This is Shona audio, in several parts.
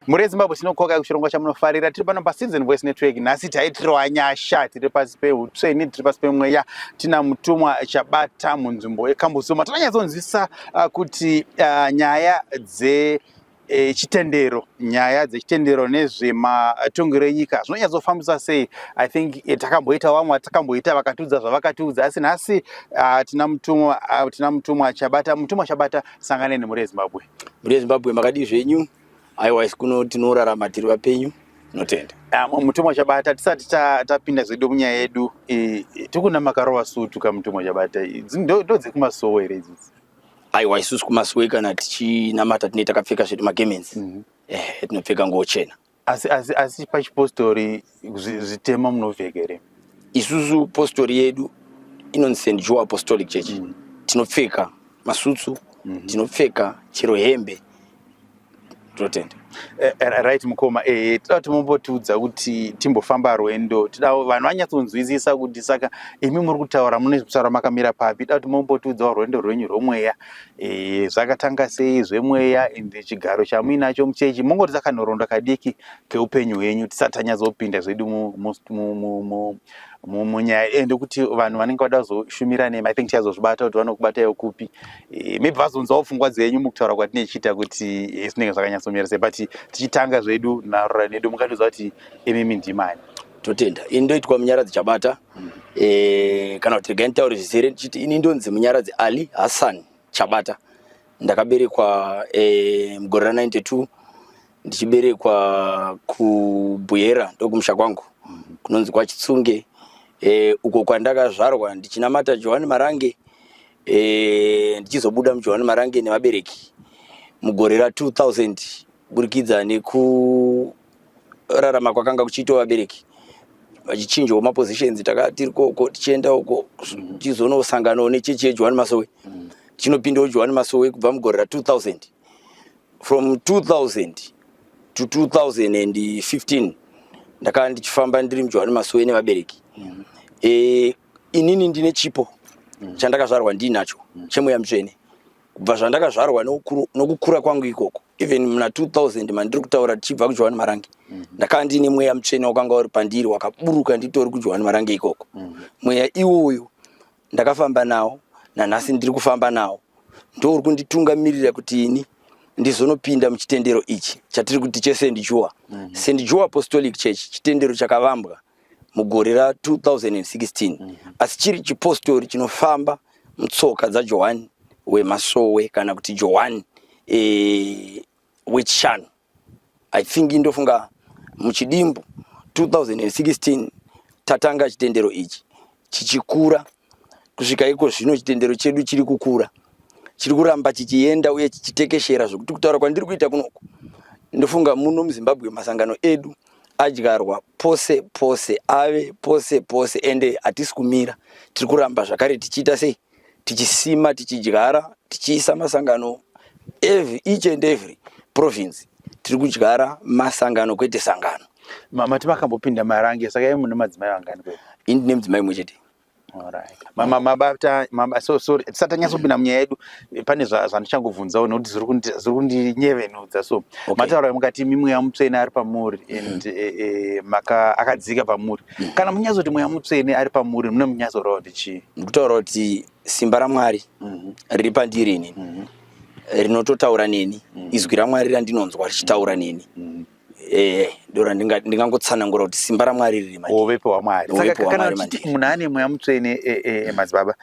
Mhuri yeZimbabwe tinokoka kuchirongwa chamunofarira tiri pano paCitizen Voice Network nhasi taitirwa nyasha tiri pasi peutsveni tiri pasi pemweya tina mutumwa chabata munzvimbo yekambusuma tinonyatsonzwisisa uh, kuti uh, nyaya dze e, chitendero nyaya dzechitendero nezvematongero enyika zvinonyatsofambisa sei i think e, takamboita vamwe vatakamboita vakatiudza zvavakatiudza asi nhasi uh, tina mutumwa uh, tina mutumwa chabata mutumwa chabata sanganeni mhuri yezimbabwe mhuri yezimbabwe makadii zvenyu aiwa isu kuno tinorarama tiri vapenyu tinotenda Ah, mu- mutumwa chabata tisati ta- tapinda zvedu munyaya yedu eh, eh, tikuna makarova sutu ka mutumwa chabata eh, dzi- ndo ndo dzekumasowe here idzidzi aiwa isusu kumasowe kana tichinamata tinee takapfeka zvedu magemensi ehe tinopfeka nguo chena asi asi asi pachipostori zvitema munovheka here isusu postori yedu inonzi st joe apostolic church mm. tinopfeka masutsu mm -hmm. tinopfeka chero hembe totenda eh, eh, right mukoma eh, toda kuti mumbotiudza kuti timbofamba rwendo toda vanhu vanyatsonzwisisa kuti saka imi muri kutaura mune zvekutaura makamira papi toda kuti mumbotiudzawo rwendo rwenyu rwemweya zvakatanga sei zvemweya and chigaro chamuinacho muchechi mungoti takanoronda kadiki keupenyu hwenyu tisati tanyatsopinda zvedu munyaya iye ndokuti vanhu vanenge vada kuzoshumira nemi i think tichazozvibata kuti vanokubatayo kupi eh, maybe vazonzwawo pfungwa dzenyu mukutaura kwatinenge tichiita kuti eh, zvinenge zvakanyatsomira sei but tichitanga zvedu narora nedu mungatiudza kuti imimi ndimani totenda ini ndoitwa munyaradzi chabata mm. eh, kana kuti regai nditaure zvizere ndichiti ini ndonzi munyaradzi ali hassan chabata ndakaberekwa mugore ra 92 ndichiberekwa kubuyera ndokumusha kwangu kunonzi kwachitsunge e, uko kwandakazvarwa ndichinamata johani marange e, ndichizobuda mujohani marange nevabereki mugore ra 2000 kuburikidza nekurarama kwakanga kuchiitwa vabereki vachichinjawo mapositions taka tiri koko tichienda uko tichizonosanganawo nechechi yejohani masowe mm. chinopindawo johani masowe kubva mugore ra 2000 from 2000 to 2015 ndakava ndichifamba ndiri mujohani masowe nevabereki mm. e, inini ndine chipo mm. chandakazvarwa ndiinacho mm. chemweya mutsvene kubva zvandakazvarwa nokukura kwangu ikoko even muna 2000 mandiri kutaura tichibva kujohani marange mm. ndakava ndiine mweya mutsvene wakanga uri pandiri wakaburuka nditori kujohani marange ikoko mm. mweya iwoyo ndakafamba nawo nanhasi ndiri kufamba nawo ndouri kunditungamirira kuti ini ndizonopinda muchitendero ichi chatiri kuti chesend jua mm -hmm. send jua apostolic church chitendero chakavambwa mugore ra 2016 mm -hmm. asi chiri chipostori chinofamba mutsoka dzajohani wemasowe kana kuti johani e, wechishanu I think ndofunga muchidimbu 2016 tatanga chitendero ichi chichikura kusvika iko zvino chitendero chedu chiri kukura chiri kuramba chichienda uye chichitekeshera zvekuti kutaura kwandiri kuita kunoku ndofunga muno muzimbabwe masangano edu adyarwa pose pose ave pose pose ende hatisi kumira tiri kuramba zvakare tichiita sei tichisima tichidyara tichiisa masangano every each and every province tiri kudyara masangano kwete sangano mama timakambopinda marange saka mune madzimai vangani kwe ini ndine mudzimai mwe chete tisati anyatsopinda munyaya yedu pane zvandichangovhunzawo nokuti zviri kundinyevenudza so mataura mukati mimweya mutsvene ari pamuri and eh, eh, akadzika pamuri mm. kana munyazoti mweya mutsvene ari pamuri mune munyazorova kuti chii ndikutaura kuti simba ramwari mhm. riri pandiri ini mhm. rinototaura neni mhm. izwi ramwari randinonzwa richitaura neni eh, ndora ndingangotsanangura kuti simba ramwari riri uvepo hwamwari munhu ane mweya mutsvene eh, eh, madzibaba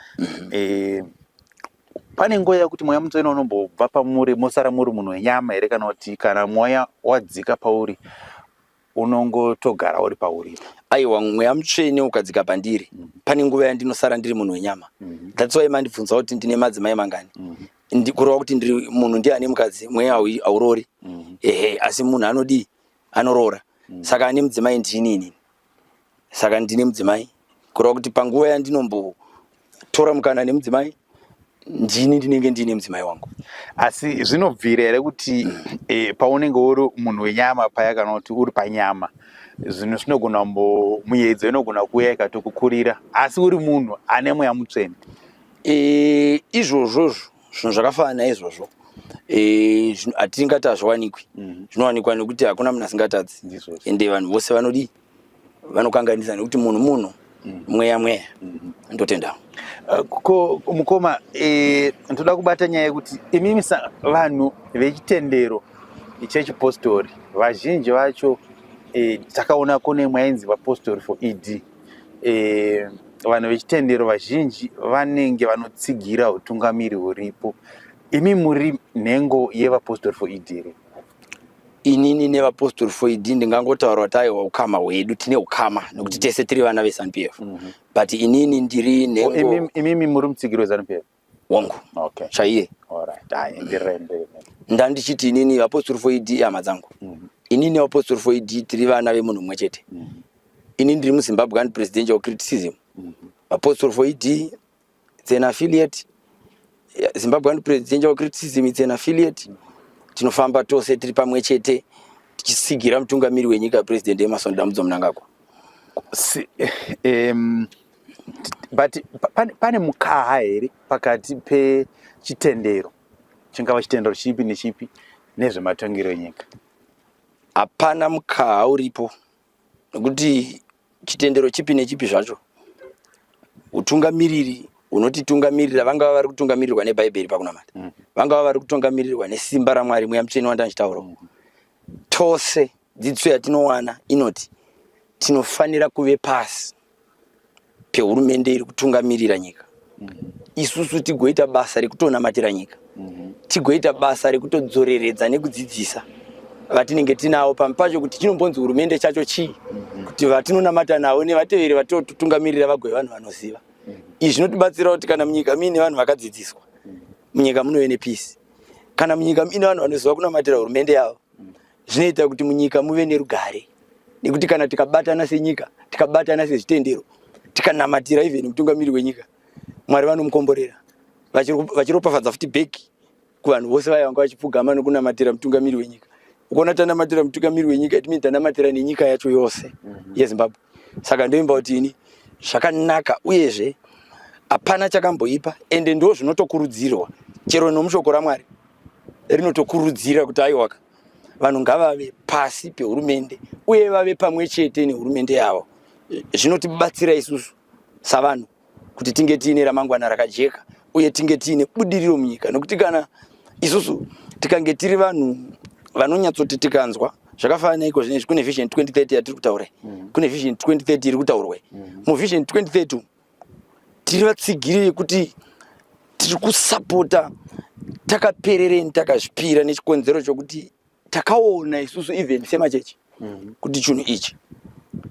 pane nguva yakuti mweya mutsvene unombobva pamuri mosara muri munhu wenyama here kana kuti kana mweya wadzika pauri unongotogara uri pauri aiwa mweya mutsvene ukadzika pandiri mm. pane nguva yandinosara ndiri munhu wenyama mm. thats why mandibvunza kuti ndine madzimai mangani mm. ndikurova kuti ndiri munhu ndiye ane mukadzi mweya hauroori mm. ehe asi munhu anodii anoroora mm. saka ane mudzimai ndini inini saka ndine mudzimai kureva kuti panguva yandinombotora mukana nemudzimai ndini ndinenge ndiine mudzimai wangu asi zvinobvira here kuti e, paunenge uri munhu wenyama paya kana kuti uri panyama zvinhu zvinogona muyedzo inogona kuuya ikatokukurira asi uri munhu ane mweya mutsvene e, izvozvozvo zvinhu zvakafanana izvozvo e, hatingati hazviwanikwi mhm. zvinowanikwa nekuti hakuna munhu asingatadzi ende vanhu vose vanodii vanokanganisa nekuti munhu munhu mm. mweya mweya mm-hmm. ndotenda eh, ko mukoma eh, ndoda kubata nyaya yekuti imimi vanhu vechitendero chechipostori vazhinji vacho eh, takaona kune mwainzi vapostori for ed vanhu vechitendero vazhinji vanenge vanotsigira utungamiri huripo imi muri nhengo yevapostori for ed here inini nevapostori foidi ndingangotaura kuti aiwa ukama hwedu tine ukama nokuti tese tiri vana vezanup f mhm. but inini ndiri nhengoimimi muri mutsigiri wezanup f wangu chaiye ndandichiti inini vapostori foidi ihama dzangu mhm. inini vapostori foidi tiri vana vemunhu mumwe chete mhm. inini ndiri muzimbabwean presidential criticism vapostori foidi it's an affiliate zimbabwean presidential criticism it's an affiliate tinofamba tose tiri pamwe chete tichisigira mutungamiri wenyika president emerson dambudzo munangagwa si, um, but pane, pane mukaha here pakati pechitendero chingava chitendero chipi nechipi nezvematongero enyika hapana mukaha uripo nokuti chitendero chipi nechipi zvacho utungamiriri unotitungamirira vangava vari kutungamirirwa nebhaibheri pakunamata mm. vangava vari kutungamirirwa nesimba ramwari mweya mutsvene wandandichitaura mm. tose dzidziso yatinowana inoti tinofanira kuve pasi pehurumende iri kutungamirira nyika isusu tigoita basa rekutonamatira nyika tigoita basa rekutodzoreredza nekudzidzisa vatinenge tinawo pamwe pacho kuti chinombonzi hurumende chacho chii kuti vatinonamata navo nevateveri vatotungamirira vagove vanhu vanoziva izvi zvinotibatsira kuti kana munyika muine vanhu vakadzidziswa munyika munove nepeace kana munyika muine vanhu vanoziva kunamatira hurumende yavo zvinoita kuti munyika muve nerugare nekuti kana tikabatana senyika tikabatana sezvitendero tikanamatira even mutungamiri wenyika mwari vanomukomborera vachiropafadza futi bheki kuvanhu vose vaya vanga vachipfugama nokunamatira mutungamiri wenyika ukona tanamatira mutungamiri wenyika itimini tanamatira nenyika yacho yose mhm. yezimbabwe saka ndoimba kuti ini zvakanaka uyezve hapana chakamboipa ende ndo zvinotokurudzirwa chero nomushoko ramwari rinotokurudzira kuti aiwaka vanhu ngavave pasi pehurumende uye vave pamwe chete nehurumende yavo zvinotibatsira isusu savanhu kuti tinge tiine ramangwana rakajeka uye tinge tiine budiriro munyika nokuti kana isusu tikange tiri vanhu vanonyatsoti tikanzwa zvakafanana neiko zvinezvi kune vision 2030 yatiri kutaura mm. kune vision 2030 iri kutaurwa mm. muvision 2030 tiri vatsigiri yekuti tiri kusapota takaperereni takazvipira nechikonzero chokuti takaona isusu even semachechi mhm. kuti chinhu ichi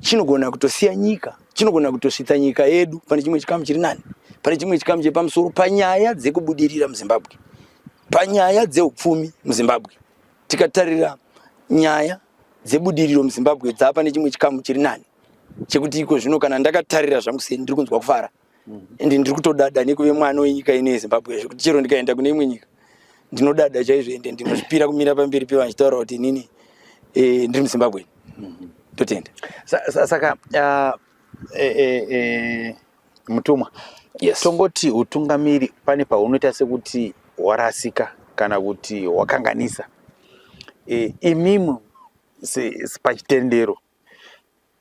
chinogona kutosiya nyika chinogona kutosvitsa nyika yedu pane chimwe chikamu chiri nani pane chimwe chikamu chiri pamusoro panyaya dzekubudirira muzimbabwe panyaya dzeupfumi muzimbabwe tikatarira nyaya dzebudiriro muzimbabwe dzaapa nechimwe chikamu chiri nani chekuti iko zvino kana ndakatarira zvangu sei ndiri kunzwa kufara and mhm. ndiri kutodada nekuve mwana wenyika ino yezimbabwe zvekuti chero ndikaenda kune imwe nyika ndinodada chaizvo ende ndinozvipira kumira pamberi pevanhu chitaura kuti inini eh, ndiri muzimbabweni mhm. totenda saka ah, eh, eh, mutumwa tongoti utungamiri pane paunoita sekuti warasika kana kuti wakanganisa imimi pachitendero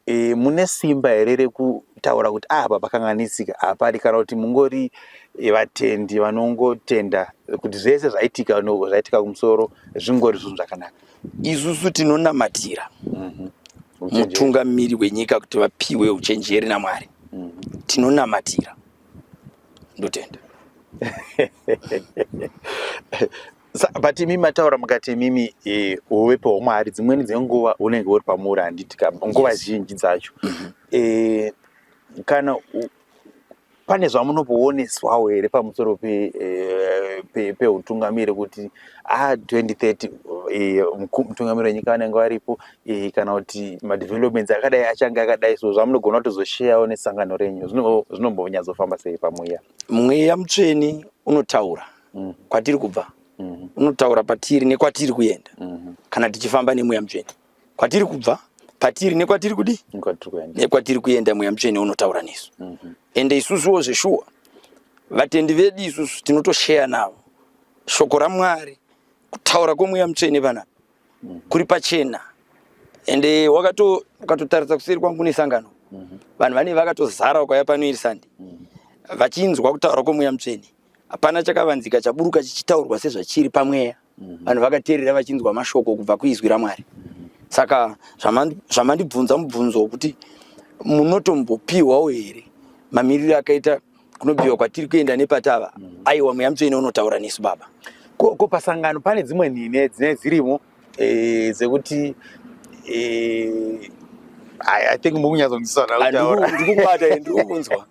e, mune simba here rekutaura kuti ah, apa pakanganisika hapadi kana kuti mungori e, vatendi vanongotenda kuti zvese zvaitika no, zvaitika kumusoro zvingori zvinhu zvakanaka isusu tinonamatira mm -hmm. mutungamiri wenyika kuti vapiwe uchenjeri namwari mm -hmm. tinonamatira ndotenda but imimi mataura mukati imimi eh, uvepo hwamwari dzimweni dzenguva unenge uri pamuuri handiti ka nguva yes. zhinji dzacho mm -hmm. e, kana u, pane zvamunopooneswawo here pamusoro peutungamiri eh, pe, pe kuti a ah, 2030 e, mutungamiri wenyika vanenge varipo e, kana kuti madevelopments akadai achange akadai so zvamunogona kutozosheyawo nesangano renyu zvinombonyatsofamba sei pamweya mweya mutsveni unotaura mm. kwatiri kubva mm-hmm. unotaura patiri nekwatiri kuenda mm-hmm. kana tichifamba nemweya mutsvene kwatiri kubva patiri nekwatiri kudi nekwatiri kuenda mweya mutsvene unotaura nesu mm-hmm. ende isusuwo zveshuwa vatendi vedu isusu tinotosheya navo shoko ramwari kutaura kwemweya mutsvene panapa kuri pachena ende wakatotaridza kuseri kwangu nesangano vanhu vane vakatozara ukauya pano iri sande vachinzwa kutaura kwemweya mutsvene hapana chakavanzika chaburuka chichitaurwa sezvachiri pamweya mhm. vanhu vakateerera vachinzwa mashoko kubva kuizwi ramwari mhm. saka zvamandibvunza mubvunzo wokuti munotombopiwawo here mamiriro akaita kunobiwa kwatiri kuenda nepatava mhm. aiwa mweya mutsvene unotaura nesu baba ko pasangano pane dzimwe nhine dzinee dzirimo eh, dzekuti eh, I, I think mukunyatsonzwiswa ndikukunzwa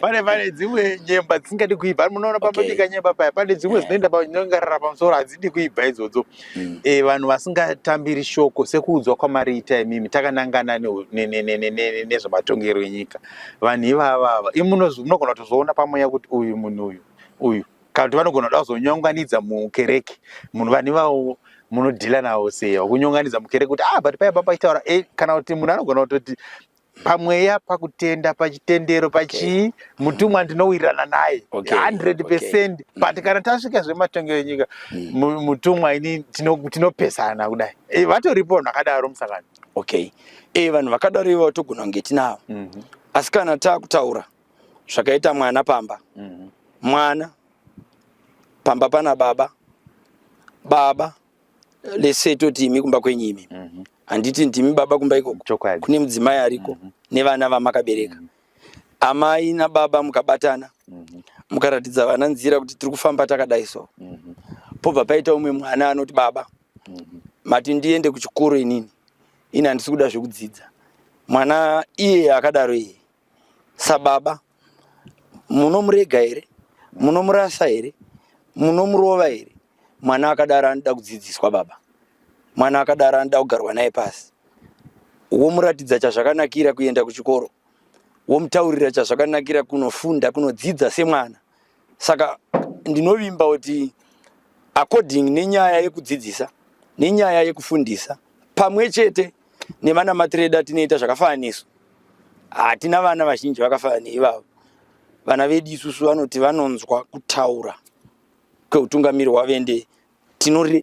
pane pane dzimwe nyemba dzisingadi kuibva munoona pambabika nyemba paya pane dzimwe eh. dzinoenda panongarara pamusoro hadzidi kuibva idzodzo hmm. eh, vanhu vasingatambiri shoko sekuudzwa kwamariita imimi takanangana nezvematongerwo enyika vanhu ivavava imunogona kutozoona pamweya kuti uyu munhu uyu uyu kana kuti vanogona kuda kuzonyonganidza mukereke munhu vani vawo munodhila nawo sei wakunyonganidza mukereke kuti ah but paya papa chitaura e eh, kana kuti munhu anogona kutoti pamweya pakutenda pachitendero pachii okay. mutumwa ndinowirirana naye okay. 100 okay. Mm. but kana tasvika zvematongero enyika mm. mutumwa ini tinopesana tino kudai e, vatoripo vanhu vakadaro musangano okay e, vanhu vakadaro ivo togona kunge tinavo mm -hmm. asi kana takutaura zvakaita mwana pamba mhm. mwana pamba pana baba baba lese toti imi kumba kwenyu imi mhm. handiti ndimi baba kumba ikoko kune mudzimai ariko mhm. nevana vamakabereka amai nababa mukabatana mukaratidza vana nzira kuti tiri kufamba takadai so pobva paita umwe mwana anoti baba mati ndiende kuchikoro inini ini handisi kuda zvekudzidza mwana iye akadaro iye sababa munomurega here munomurasa here munomurova here mwana akadaro anoda kudzidziswa baba mwana akadaro anoda kugarwa naye pasi womuratidza chazvakanakira kuenda kuchikoro womutaurira chazvakanakira kunofunda kunodzidza semwana saka ndinovimba kuti according nenyaya yekudzidzisa nenyaya yekufundisa pamwe chete nevana matiredi atinoita zvakafanana nesu hatina vana vazhinji vakafanana neivavo vana vedu isusu vanoti vanonzwa kutaura kweutungamiri hwavende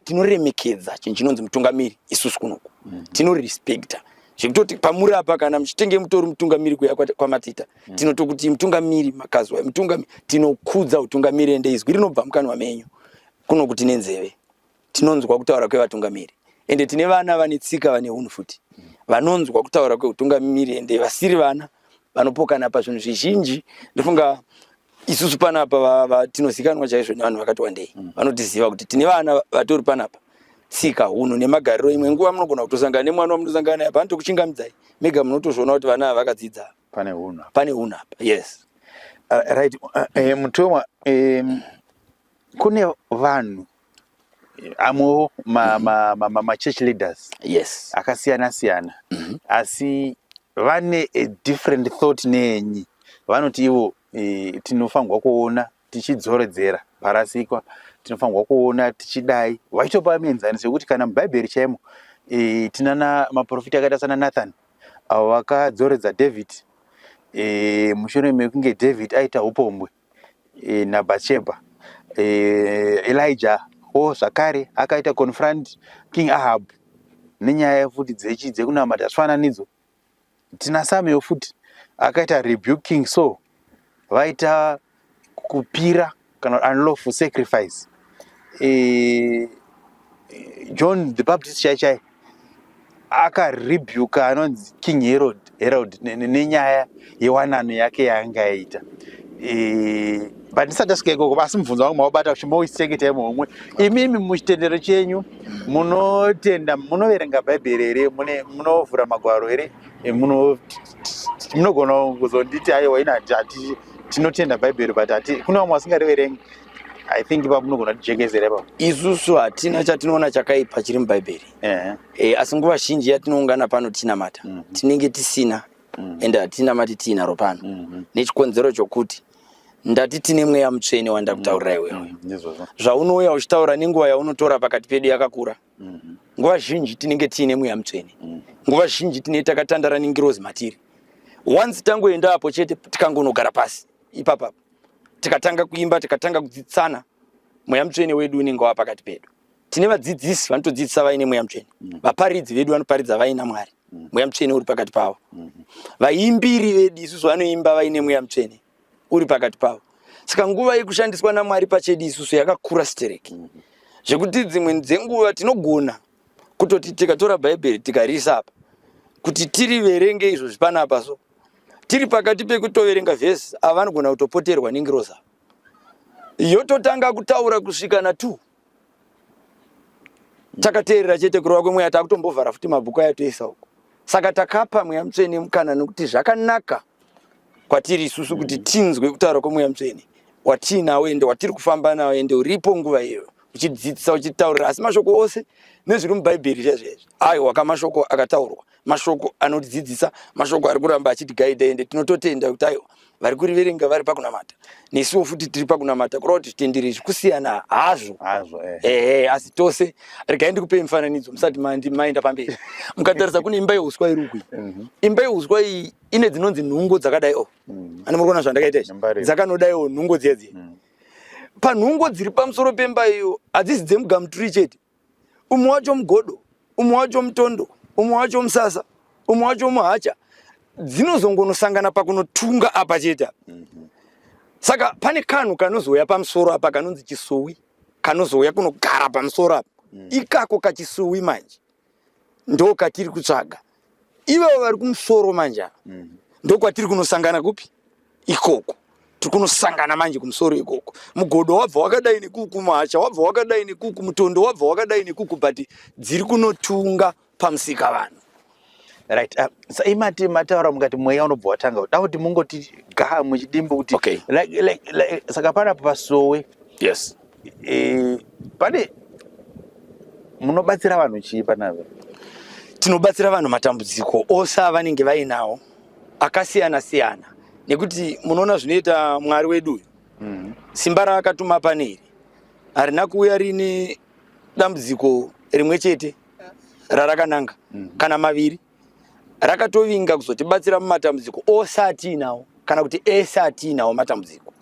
tinoremekedza chinhu chinonzi mutungamiri isusu kunoku mm. tinorespecta zvekutoti pamuri apa kana muchitenge mutori mutungamiri kuya kwamatita mm. tinotokuti mutungamiri makazwa mutungamiri tinokudza utungamiri ende izwi rinobva mukanwa menyu kunoku tine nzeve tinonzwa kutaura kwevatungamiri ende tine vana vane tsika vane hunhu futi mm. vanonzwa kutaura kweutungamiri ende vasiri vana vanopokana pazvinhu zvizhinji ndofunga isusu panapa tinozikanwa chaizvo nevanhu vakati wandei mm. vanotiziva kuti tine vana vatori panapa tsika hunhu nemagariro imwe nguva munogona kutosangana nemwana wamunosangana naye pano tokuchingamidzai mega munotozviona kuti vana ava vakadzidza pane hunhu pane hunhu apa yes uh, right uh, eh, mutumwa um, kune vanhu amwewo machurch mhm. leaders yes akasiyana siyana mm -hmm. asi vane a different thought neenyi vanoti ivo e, tinofanirwa kuona tichidzoredzera parasikwa tinofanirwa kuona tichidai vaitopa mienzaniso yekuti kana mubhaibheri chaimo e, tinana maprofita akaita sana nathan avo vakadzoredza david e, mushure mekunge david aita upombwe e, naBhatshebha e, Elijah o zvakare akaita confront King Ahab nenyaya futi dzechi dzekunamata zvifananidzo tina Samuel futi akaita rebuke King Saul vaita kupira kana unlawful sacrifice e, John the Baptist chai chai akarebuka anonzi king herod herod nenyaya yewanano yake yaanga yaita e, but ndisati asvika ikoko asi mubvunzo wangu maubata kuti moisechengeta imwe umwe imimi muchitendero chenyu munotenda munoverenga bhaibheri here munovhura magwaro here e, munogona kuzonditi aiwa ina tinotenda bhaibheri but kune vamwe vasingariverengi i think ipapo unogona kutijekezera ipapo isusu hatina chatinoona chakaipa chiri mubhaibheri yeah. e, eh, asi nguva zhinji yatinoungana pano tichinamata mm -hmm. tinenge tisina mm -hmm. ende hatinamati tiinaro pano mm -hmm. nechikonzero chokuti ndati tine mweya mutsvene wandakutaurira iwewe mm -hmm. zvaunouya uchitaura nenguva yaunotora pakati pedu yakakura mm -hmm. nguva zhinji tinenge tiine mweya mutsvene mm -hmm. nguva zhinji tine takatandara nengirozi matiri once tangoenda apo chete tikangonogara pasi ipapapo tikatanga kuimba tikatanga kudzidzisana mweya mutsvene wedu unenge wava pakati pedu tine vadzidzisi vanotodzidzisa vaine mweya mutsvene mm. vaparidzi vedu vanoparidza vaina mwari mm. mweya mutsvene uri pakati pavo mm-hmm. vaimbiri vedu isusu vanoimba vaine mweya mutsvene uri pakati pavo saka nguva yekushandiswa namwari pachedu isusu yakakura stereki mm-hmm. zvekuti dzimwe dzenguva tinogona kutoti tikatora bhaibheri tikariisa apa kuti tiriverenge izvo zvipanapa so tiri pakati pekutoverenga vhesi ava vanogona kutopoterwa nengiroza yototanga kutaura kusvika na two takateerera chete kurova kwemweya takutombovhara futi mabhuku aya toisa uko saka takapa mweya mutsvene mukana nokuti zvakanaka kwatiri isusu kuti tinzwe kutaura kwemweya mutsvene watiinawo ende watiri kufamba nawo ende uripo nguva iyoyo uchidzidzisa uchitaurira asi mashoko ose nezviri mubhaibheri zvezvezvi aiwa kamashoko akataurwa mashoko anotidzidzisa mashoko ari kuramba achitigaida ende tinototenda kuti aiwa vari kuriverenga vari pakunamata nesuwo futi tiri pakunamata kureva kuti zvitendero izvi kusiyana hazvo hazvo eh. ehe eh, asi tose regai ndikupei mufananidzo musati maenda pamberi mukatarisa kune imba yeuswa iri ukui mhm. imba yeuswa iyi ine dzinonzi nhungo dzakadai o oh. mhm. ani muri kuona zvandakaita izvi dzakanodaiwo oh, nhungo dziya dziya mhm. panhungo dziri pamusoro pemba iyo hadzisi dzemugamuturi chete umwe wacho mugodo umwe wacho mutondo umwe wacho musasa umwe wacho muhacha dzinozongonosangana pakunotunga apa chete saka pane kanhu kanozouya pamusoro apa kanonzi chisuwi kanozouya kunogara pamusoro apa ikako kachisuwi manje ndo katiri kutsvaga Ivo vari kumusoro manje ava mm. ndokwatiri kunosangana kupi ikoko tiri kunosangana manje kumusoro ikoko mugodo wabva wakadai nekuku muhacha wabva wakadai nekuku mutondo wabva wakadai nekuku but dziri kunotunga pamusika vanhu right uh, saimati mataura mukati mweya unobva watanga kuda kuti mungoti gaa muchidimbo kuti okay. like, like, like, saka panapo pasowe yes e, pane munobatsira vanhu chii panave tinobatsira vanhu matambudziko ose avanenge vainawo akasiyana siyana nekuti munoona zvinoita mwari wedu uyu mm. simba raakatuma pane iri harina kuuya rine dambudziko rimwe chete rarakananga mm. kana maviri rakatovinga kuzotibatsira mumatambudziko ose atiinawo kana kuti ese atiinawo matambudziko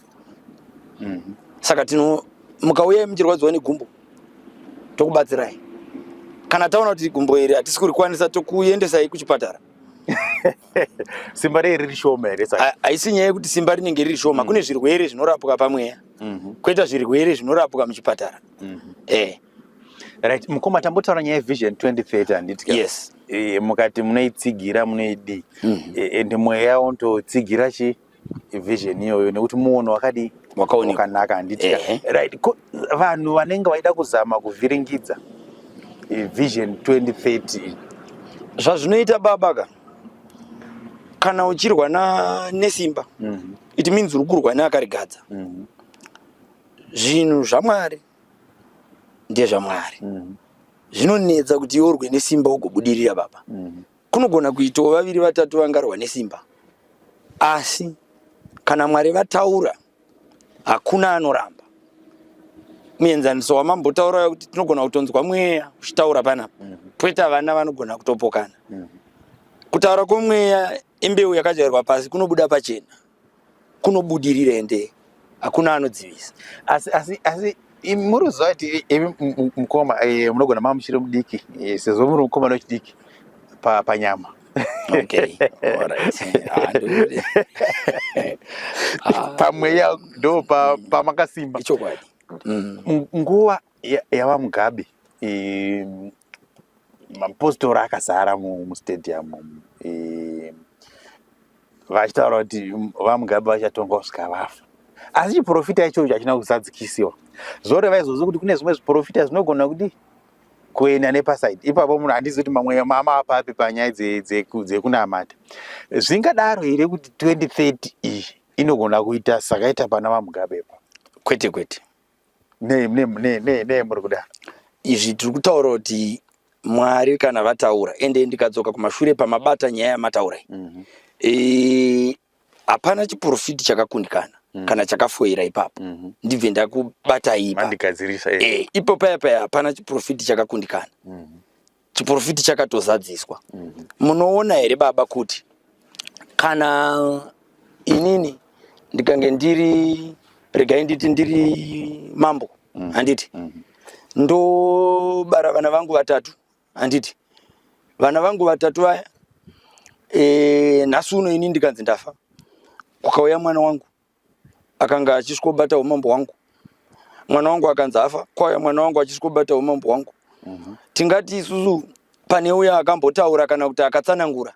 mm. saka tino mukauyai muchirwadziwa negumbo tokubatsirai kana taona kuti gumbo iri hatisi kurikwanisa tokuendesai kuchipatara simba rei riri shoma here haisi nyaya yekuti simba rinenge riri shoma mm. kune zvirwere zvinorapwa pamweya mm -hmm. kweta zvirwere zvinorapwa muchipatara mm -hmm. eh. right mukoma tambotaura nyaya yevision 2030 handiti yes e, mukati munoitsigira munoidii mm -hmm. e, ende mweya yawo ndotsigira chi vision iyoyo nekuti muono wakadii wakaonwakanaka handiti eh. right vanhu vanenge vaida kuzama kuvhiringidza e, vision 2030 zvazvinoita baba ka kana uchirwa na nesimba mm -hmm. it means uri kurwa neakarigadza mm -hmm. zvinhu zvamwari ndezvamwari mm. zvinonetsa kuti iwe urwe nesimba ugobudirira baba mm. kunogona kuitawo vaviri vatatu vangarwa nesimba asi kana mwari vataura hakuna anoramba muenzaniso wamambotaura uya kuti tinogona kutonzwa mweya uchitaura panapa mm -hmm. poita vana vanogona kutopokana mm -hmm. kutaura kwemweya imbeu yakajairwa pasi kunobuda pachena kunobudirira ende hakuna anodzivisa asi asi asi muri kuziva kuti imi mukoma eh, munogona mama muchiri mudiki eh, sezvo muri mukomana wechidiki panyama pamweya ndo pamakasimba mm. nguva yava mugabe mapositori akazara mustadium vachitaura kuti vamugabe vachatonga kusvika vafa asi chiprofita ichocho hachina kuzadzikisiwa zvoreva izvozvo kuti kune zvimwe zviprofita zvinogona kuti kuenda nepasaidi ipapo munhu handizi kuti mamwe mama apapi panyaya dzekunamata zvingadaro here kuti 2030 iyi inogona kuita sakaita pana vamugabe pa kwete kwete nei nei nei nei nei muri kudaro izvi tiri kutaura kuti mwari kana vataura ende ndikadzoka kumashure pamabata nyaya yamataurai Mhm. Eh, hapana chiprofiti chakakundikana Mm. kana chakafoira ipapo Mhm. ndibve ndakubata ipa Mandikadzirisa eh. Eh, ipo paya paya hapana chiprofiti chakakundikana Mhm. chiprofiti chakatozadziswa mhm. munoona mm -hmm. here baba kuti kana inini ndikange ndiri regai nditi ndiri mambo mm. handiti mm. ndobara vana vangu vatatu handiti vana vangu vatatu vaya e, nhasi uno ini ndikanzi ndafa kukauya mwana wangu akanga achisvikobata humambo hwangu mwana wangu akanzi afa kwauya mwana wangu achisvikobata humambo hwangu mhm. tingati isusu pane uya akambotaura kana kuti akatsanangura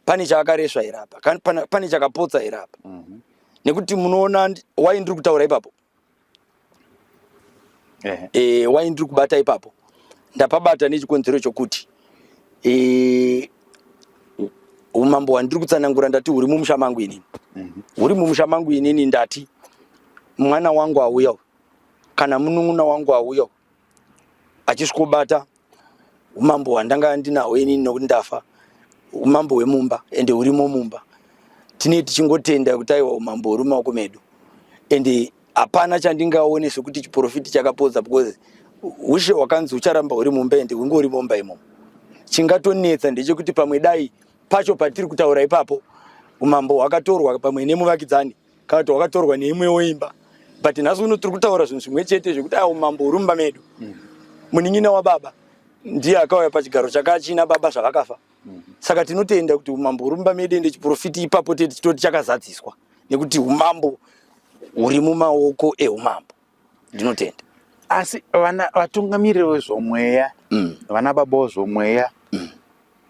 pane chaakaresva here apa pane chakapotsa here apa mhm. nekuti munoona wai ndiri kutaura ipapo eh, eh why ndiri kubata ipapo ndapabata nechikonzero chokuti eh, umambo hwandiri kutsanangura ndati huri mumusha mangu inini mhm. huri mumusha mangu inini ndati mwana wangu auya kana munun'una wangu auya achisvikobata umambo hwandanga ndinahwo inini nokuti ndafa umambo hwemumba ende hurimo mumba tine tichingotenda kuti aiwa umambo huri mumaoko medu ende hapana chandingaone sekuti chiprofiti chakapodza because ushe hwakanzi hucharamba huri mumba ende hunge huri mumba imomo chingatonetsa ndechekuti pamwe dai pacho patiri kutaura ipapo umambo hwakatorwa pamwe nemuvakidzani kana kuti wakatorwa neimwewo imba but nhasi uno tiri kutaura zvinhu zvimwe chete zvekuti awo mambo uri mumba medu mm. munin'ina wababa ndiye akauya pachigaro chakachina baba zvavakafa mm. saka tinotenda kuti umambo uri mumba medu ende chiprofiti ipapo tete chitoti chakazadziswa nekuti umambo huri mumaoko eumambo ndinotenda asi vana vatungamiriri vezvomweya mm. vana baba wezvomweya mm.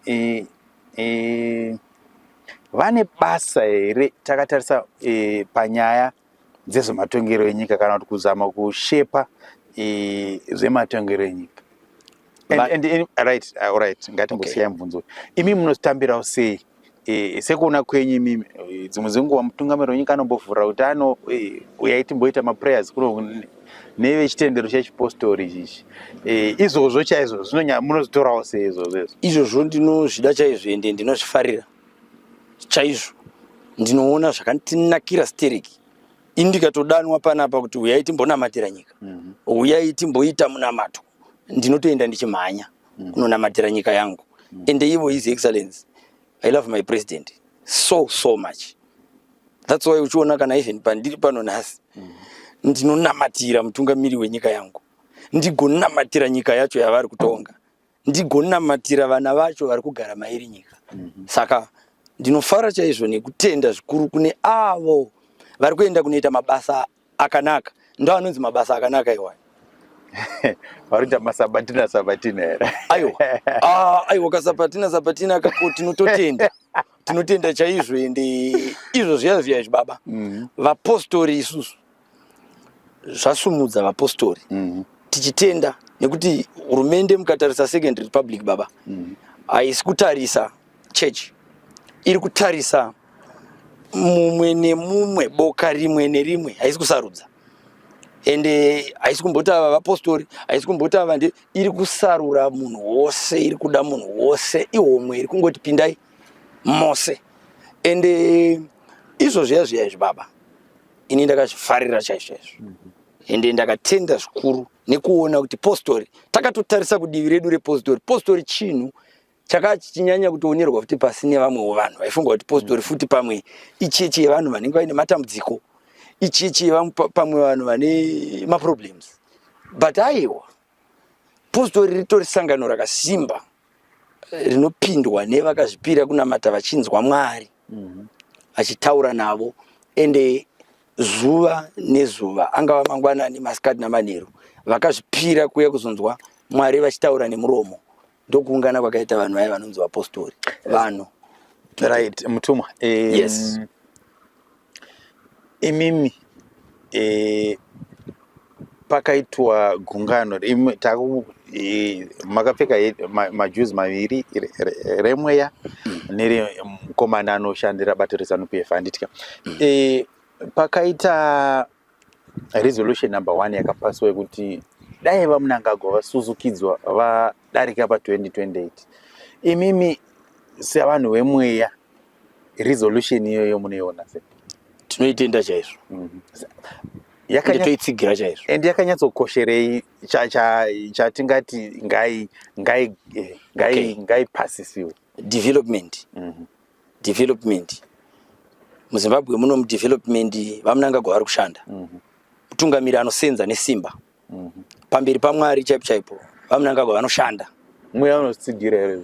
e, e, vane basa here takatarisa e, panyaya dzezvematongero enyika kana kuti kuzama kushepa e, zvematongero enyika And, and, and, right, uh, all right. Ngatimbosiya okay. mubvunzo. Imi munotambirawo sei? E, sekuona kwenyu imimi eh, dzimwe dzenguva mutungamiri wenyika anombovhura kuti ano e, uyai timboita maprayers kuno nevechitendero chechipostori ichichi e, izvozvo chaizvo zvinonya munozvitorawo sei izvozvo izvo izvozvo ndinozvida chaizvo ende ndinozvifarira chaizvo ndinoona zvakantinakira stereki indikatodanwa panapa kuti uyai timbonamatira nyika mm -hmm. uyai timboita munamato ndinotoenda ndichimhanya mm. kunonamatira nyika yangu mm. and ivo his excellence i love my president so so much that's why uchiona kana even pandiri pano nhasi mm. ndinonamatira mutungamiri wenyika yangu ndigonamatira nyika yacho yavari kutonga ndigonamatira vana vacho vari kugara mairi nyika mm-hmm. saka ndinofara chaizvo nekutenda zvikuru kune avo vari kuenda kunoita mabasa akanaka ndo anonzi mabasa akanaka iwayo varita masabatina sabatina here aiwa ah, aiwa kasabatina sabatina kako tinototenda tinotenda chaizvo ende izvo zviya zviya izvi baba mm-hmm. vapostori isusu zvasumudza vapostori mm-hmm. tichitenda nekuti hurumende mukatarisa second republic baba mm-hmm. haisi kutarisa church iri kutarisa mumwe nemumwe boka rimwe nerimwe haisi kusarudza ende haisi kumboti ava vapostori haisi kumboti ava ndi iri kusarura munhu wose iri kuda munhu wose ihomwe iri kungoti pindai mose ende izvo zviya zviya izvi baba ini ndakazvifarira chaizvo izvo mhm. ende ndakatenda zvikuru nekuona kuti postori takatotarisa kudivi redu repostori postori chinhu chakanga chichinyanya kutoonerwa futi pasi nevamwewo vanhu vaifunga kuti positori mm. futi pamwe ichechi yevanhu vanenge vaine matambudziko ichechi pamwe vanhu vane maproblems but aiwa positori ritori sangano rakasimba eh, rinopindwa nevakazvipira kunamata vachinzwa mwari mm-hmm. achitaura navo ende zuva nezuva angava mangwanani masikati namanheru vakazvipira kuya kuzonzwa mwari vachitaura nemuromo ndokuungana kwakaita vanhu vaya vanonzi vapostori vanhu right mutumwa um, yes imimi e, pakaitwa gungano e, makapfeka majuzi ma maviri remweya mm. neremukomana anoshandira bato rezanup f handitya mm. e, pakaita resolution number one yakapaswa yekuti dai vamunangagwa vasuzukidzwa vadarika pa 2028 imimi sevanhu vemweya resolution iyoyo munoiona se tinoitenda chaizvo mm -hmm. toitsigira chaizvo and yakanyatsokosherei chatingati ngai ngai eh, ngai ngai pasisiwe development mm -hmm. development muzimbabwe muno mudevelopment vamunangagwa vari kushanda mhm. mutungamiri anosenza nesimba mhm. pamberi pamwari chaipo chaipo vamunangagwa vanoshanda mweya unotsigira here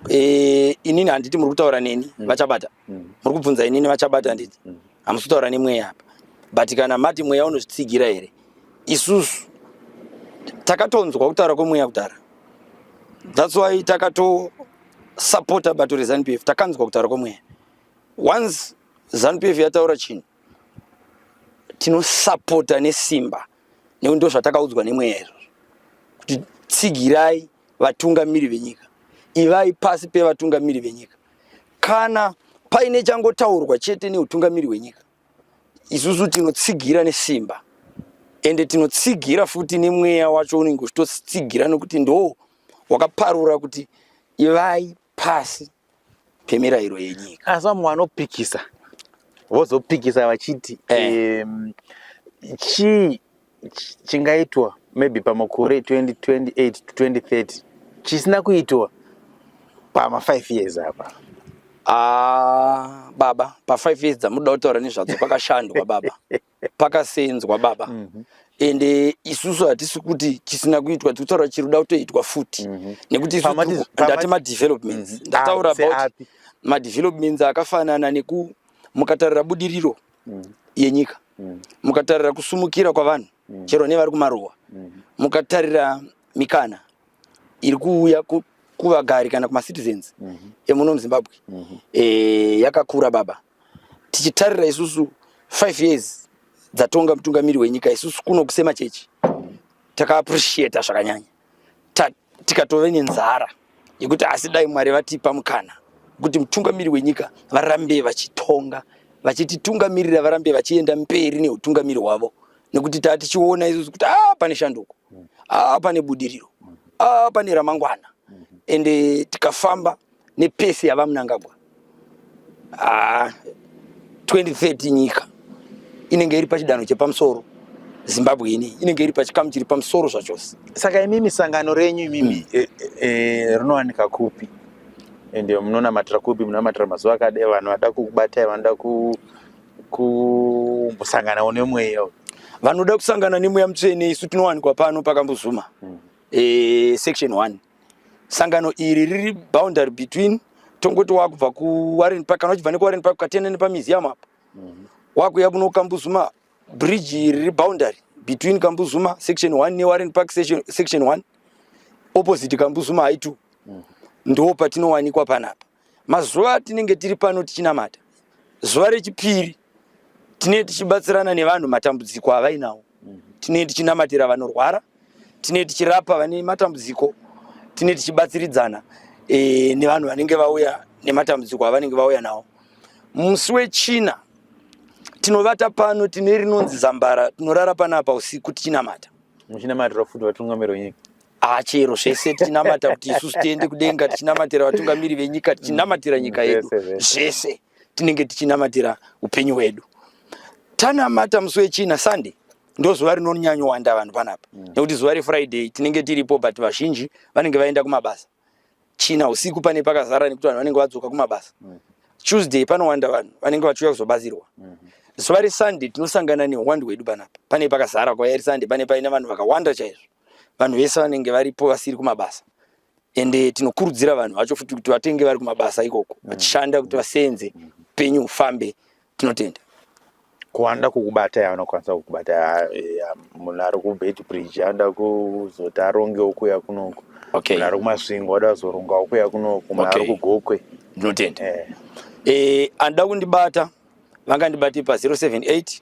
eh, inini handiti muri kutaura neni mhm. vachabata muri kubvunza inini vachabata handiti hamusi kutaura nemweya apa but kana mati mweya unozvitsigira here isusu takatonzwa kutaura kwemweya kudhara that's why takato supporter bato rezanu f takanzwa kutaura kwemweya once zanu f yataura chinhu tinosapota nesimba nekuti ndo zvatakaudzwa nemweya izvozvo kuti tsigirai vatungamiri venyika ivai pasi pevatungamiri venyika kana paine changotaurwa chete neutungamiri hwenyika isusu tinotsigira nesimba ende tinotsigira futi nemweya wacho unenge uchitotsigira nekuti ndo wakaparura kuti ivai pasi pemirayiro yenyika asi vamwe vanopikisa vozopikisa vachiti eh. um, chii chingaitwa maybe pamakore 2028 to 2030 chisina kuitwa pama five years apa Ah, baba pa five years dzamuda kutaura nezvadzo kwakashandwa baba pakasenzwa baba mm -hmm ende isusu hatisi kuti chisina kuitwa tiri kutaura chiri kuda kutoitwa futi mm -hmm. nekuti ndati madevelopments mm -hmm. ndataura ah, about madevelopments akafanana neku mukatarira budiriro mm -hmm. yenyika mm -hmm. mukatarira kusumukira kwavanhu mm -hmm. chero nevari kumaruwa mm -hmm. mukatarira mikana iri kuuya ku, kuvagari kana kumacitizens mm -hmm. emuno muzimbabwe mm -hmm. e, yakakura baba mm -hmm. tichitarira isusu five years dzatonga mutungamiri wenyika isusu kuno kusema chechi takaappreciata zvakanyanya tikatove nenzara yekuti asi dai mwari vatipa mukana kuti mutungamiri wenyika varambe vachitonga vachititungamirira varambe vachienda mberi neutungamiri hwavo nekuti taa tichiona isusu kuti a pane shanduko a pane budiriro a pane ramangwana ende tikafamba nepeace yavamunangagwa haa ah, 2030 nyika inenge iri pachidanho chepamusoro zimbabwe ini inenge iri pachikamu chiri pamusoro zvachose saka imimi sangano renyu imimi mm. e, e, rinowanika kupi ende munonamatira kupi munonamatira mazuva akadai vanhu vada kukubatai vanoda kumbosanganawo nemweya vanoda kusangana nemweya mutsvene isu tinowanikwa pano pakambozuma mm. e, section one sangano iri riri boundary between tongoti wakubva kuwarren park kana uchibva nekuwarren park ukatenda nepamuseum apa mhm. wakuya kuno kambuzuma bridge iri riri boundary between kambuzuma section one newarren park section one opposite kambuzuma high two mhm. ndo patinowanikwa panapa Mazuva atinenge tiri pano tichinamata, zuva rechipiri tinee tichibatsirana nevanhu matambudziko avainawo, tinee tichinamatira vanorwara, tinee tichirapa vane matambudziko, tinee tichibatsiridzana e, nevanhu vanenge vauya nematambudziko avanenge vauya nawo. Musi wechina tinovata pano tine rinonzi zambara, tinorara panapa usiku tichinamata. Muchinamatira futi vatungamiri wenyika Ah, chero zvese tinamata kuti isusu tiende kudenga tichinamatira vatungamiri venyika tichinamatira nyika yedu zvese tinenge tichinamatira upenyu hwedu tanamata musi wechina sunday ndozuva rinonyanyowanda vanhu panapa mm. nekuti zuva refriday tinenge tiripo but vazhinji vanenge vaenda kumabasa china usiku pane pakazara nekuti vanhu vanenge vadzoka kumabasa mm. tuesday panowanda vanhu vanenge vachiuya kuzobatsirwa mm-hmm. zuva resunday tinosangana nehwandu hwedu panapa pane pakazara kwayari sunday pane paine vanhu vakawanda chaizvo vanhu vese vanenge varipo vasiri kumabasa ende tinokurudzira vanhu vacho futi kuti vatenge vari kumabasa ikoko mm. vachishanda kuti vaseenze mm. upenyu hufambe tinotenda kuwanda kukubatai anokwanisa kukubatai eh, munhu ari kubet bridge anoda kuzoti arongewo kuya kunoko munhu ari kumasvingo oda kuzorongawo kuya kunoko munhu ari kugokwe ndinotenda eh. eh, anoda kundibata vangandibate pa 078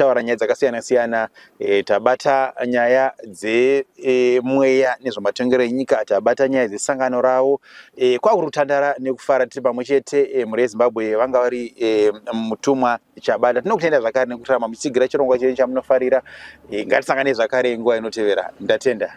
taura nyaya dzakasiyana siyana e, tabata nyaya dzemweya e, nezvematongero enyika tabata nyaya dzesangano ravo e, kwakuri kutandara nekufara tiri pamwe chete e, mhuri yezimbabwe vanga vari e, mutumwa chabata tinokutenda zvakare nekutirama muchitsigira chirongwa chenyu chamunofarira e, ngatisangane zvakare nguva inotevera ndatenda